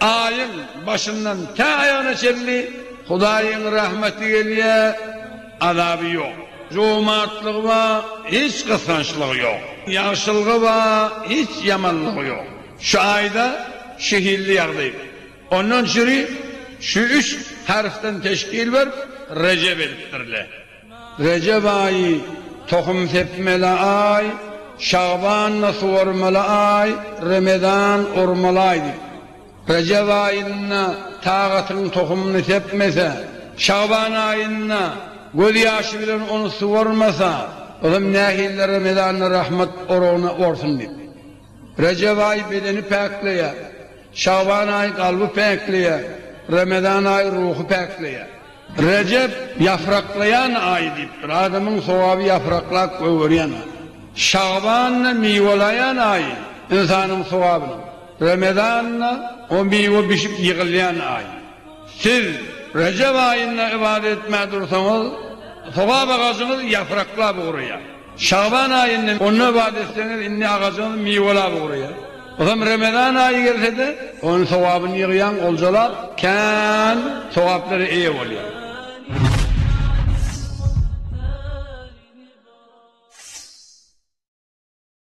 Aýyň başyndan tä aýagyna çenli Hudaýyň rahmeti gelýär, azaby ýok. Jomartlygy bar, hiç gysgançlygy ýok. Ýagşylygy bar, hiç ýamanlygy ýok. Şu aýda şu hilli ýagdaý. Ondan çyri şu üç harfden teşkil berip, Rejep edipdirler. Rejep aýy, tohum sepmeli aý, Şagban-da suwarmaly aý, Remezan, urmaly aý diýip. Rejep aýynda tagatyň tohumyny sepmese, Şagban aýynda göz ýaşy bilen ony suwarmasa, ozam nähilli Remezanda rahmat oragyny orsun diýip. Rejep aýy bedeni päkleýär. Şagban aýy kalby päkleýär. Remezan aýy ruhy päkleýär. Rejep ýapraklaýan aý diýipdir. Adamyň sogaby ýapraklap gögerýän aý. Şaban-da miwelaýan aý, ynsanyň sogabynyň. Remezan-da o miwe bişip ýygylýan aý. Siz Rejep aýynda ybadat etmän dursaňyz, sogap agajyňyz ýapraklap ugraýar. Şaban aýynda onda ybadat etseňiz, indi agajyňyz miwelap ugraýar. Ysam Remezan aýy gelse-de, onuň sogabyny ýygýaň, oljalap, kän sogaplara eýe bolýaň.